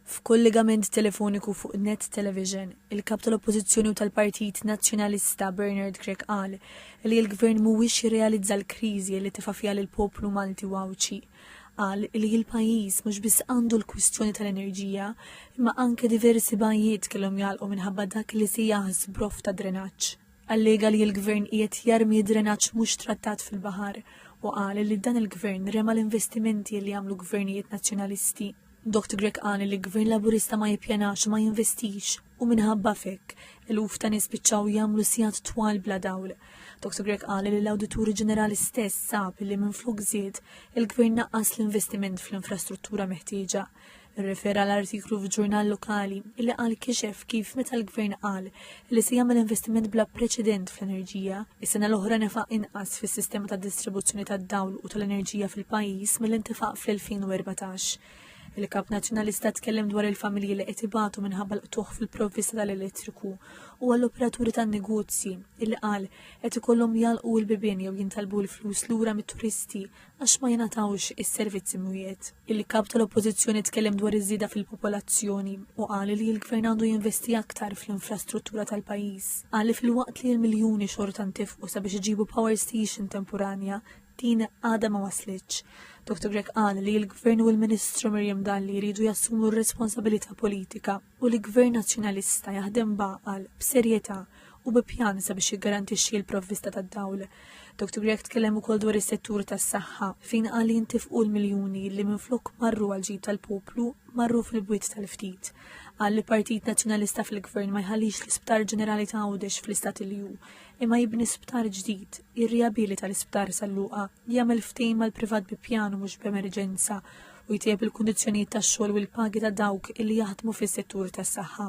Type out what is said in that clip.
F'kollegament telefoniku fuq Net Television, il-Kap tal-Oppożizzjoni u tal-Partit Nazzjonalista Bernard Grech qal li l-Gvern mhuwiex jirrealizza l-kriżi li tefa' fiha lill-poplu Malti u Għawdxi. Qal li il-pajjiż mhux biss għandu l-kwistjoni tal-enerġija imma anke diversi bajjiet kellhom jagħlqu minħabba dak li sejjaħ żbroff ta' drenaġġ. Allega li l-Gvern qiegħed jarmi drenaġġ mhux trattat fil-baħar u qal li dan il-Gvern rema l-investimenti li għamlu Gvernijiet Nazzjonalisti. Doct Grech qal li Gvern Laburista ma jippjanax u ma jinvestix u minħabba f'hekk eluf ta' nies spiċċaw jagħmlu sigħat twal bla dawl. Doct Grech qal li l-Awditur Ġenerali stess sab li minflok żied, il-Gvern naqqas l-investiment fl-infrastruttura meħtieġa. Rrefera l-artiklu f'ġurnal lokali li qal kixef kif meta l-gvern qal li se jagħmel investiment bla preċedent fl-enerġija, is-sena l-oħra nefaq inqas fis-sistema ta' distribuzzjoni tad-dawl u tal-enerġija fil-pajjiż mill-intefaq fl-2014. Il-Kap Nazzjonalista tkellem dwar il-familji li qed ibatu minħabba l-qtuħ fil-provvista tal-elettriku u għall-operaturi tan-negozji illi qal qed ikollhom jalqu l-bibien jew jintalbu l-flus lura mit-turisti għax ma jingħatawx is-servizzi mwiegħed. Il-Kap tal-Oppożizzjoni tkellem dwar iż-żieda fil-popolazzjoni u qal li l-Gvern għandu jinvesti aktar fl-infrastruttura tal-pajjiż. Qal li filwaqt li l-miljuni xorta ntefqu sabiex iġibu power station temporanja, din għadha ma waslitx. Dr Grech qal li l-Gvern u l-Ministru Miriam Dalli jridu jassumu r-responsabilità politika. u li Gvern Nazzjonalista jaħdem b'għaqal, b'serjetà u bi pjan sabiex jiggarantixxi l-provvista tad-dawl. Dr Grech tkellem ukoll dwar is-settur tas-saħħa fejn qal li jintefqu l-miljuni li minflok marru għall-ġid tal-poplu marru fil-bwiet tal-ftit. Qal li Partit Nazzjonalista fil-Gvern ma jħallix l-Isptar Ġenerali ta' Għawdex fl-istat li hu, imma jibni sptar ġdid, jirriabilita l-Isptar San Luqa, jagħmel ftehim mal-privat bi pjan u mhux b'emerġenza u jtejjeb il-kundizzjonijiet tax-xogħol u l-pagi ta' dawk li jaħdmu fis-settur tas-saħħa.